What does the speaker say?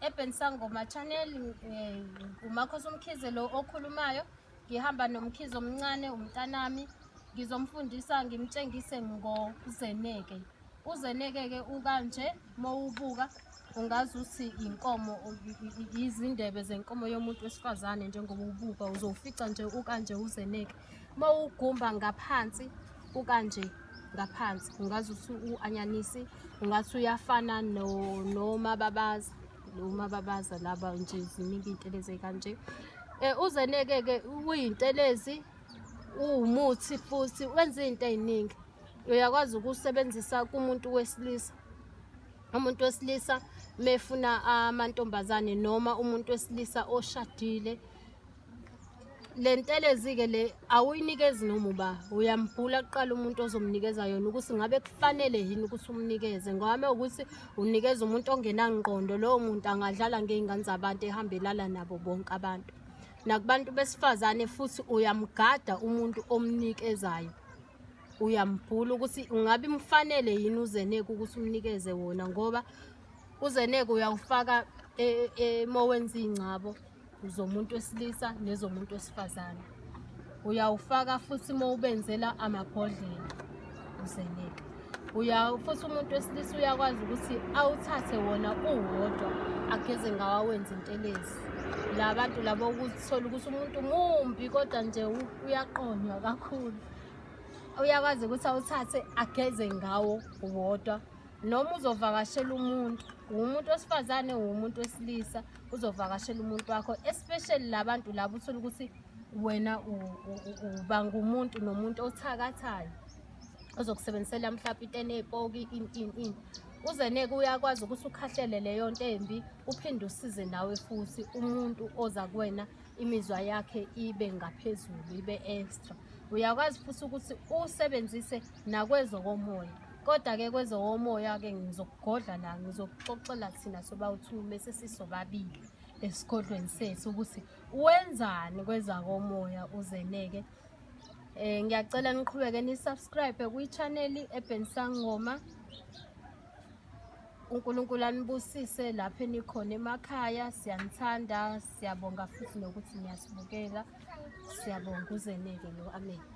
Eben Sangoma Channel eh, uMakhosi Mkhize lo okhulumayo ngihamba nomkhize omncane umntanami ngizomfundisa ngimtshengise ngozeneke uzeneke ke ukanje mowubuka ungazi ukuthi inkomo izindebe zenkomo yomuntu wesifazane njengoba ubuka uzofica nje ukanje uzeneke mawugumba ngaphansi ukanje ngaphansi ungaze uthi u-anyanisi ungathi uyafana nomababaza nomababaza laba nje ziningi iy'ntelezi ey'kanje um eh, uzeneke-ke uyintelezi uwumuthi futhi wenza iy'nto ey'ningi uyakwazi ukusebenzisa kumuntu wesilisa umuntu wesilisa mefuna amantombazane noma umuntu wesilisa oshadile le ntelezi-ke le awuyinikezi noma uba uyambhula kuqala umuntu ozomnikeza yona ukuthi ngabe kufanele yini ukuthi umnikeze ngwame ukuthi unikeza umuntu ongenangqondo lowo muntu angadlala ngey'ngane zabantu ehambelala nabo bonke abantu nakubantu besifazane futhi uyamgada umuntu omnikezayo uyambhula ukuthi ungabe imfanele yini uzeneke ukuthi umnikeze wona ngoba uzeneke uyawufaka emowenzi e, ingcabo zomuntu wesilisa nezomuntu wesifazane uyawufaka futhi uma ubenzela amabhodlela uzeleka uya futhi umuntu wesilisa uyakwazi ukuthi awuthathe wona uwodwa ageze ngawo awenze intelezi la bantu labo ukuthola ukuthi umuntu mumbi kodwa nje uyaqonywa kakhulu uyakwazi ukuthi awuthathe ageze ngawo wodwa noma uzovakashela umuntu wumuntu wesifazane wumuntu wesilisa uzovakashela umuntu wakho especially labantu labo uthole ukuthi wena uba ngumuntu nomuntu othakathayo ozokusebenzisela mhlawumbe into enepoki in in in uze neke uyakwazi ukuthi ukhahlele leyo nto embi uphinde usize nawe futhi umuntu oza kuwena imizwa yakhe ibe ngaphezulu ibe extra uyakwazi futhi ukuthi usebenzise nakwezokomoya kodwa-ke kwezokomoya-ke ngizokugodla la ngizokuxoxela thina sobawu-two mese sisobabili esigodlweni sethu ukuthi wenzani kwezakomoya uzeneke um ngiyacela niqhubeke nisubscribe kwi-chaneli ebhensangoma uNkulunkulu anibusise lapho enikhona emakhaya siyanithanda siyabonga futhi nokuthi niyasibukela siyabonga uzeneke lo amen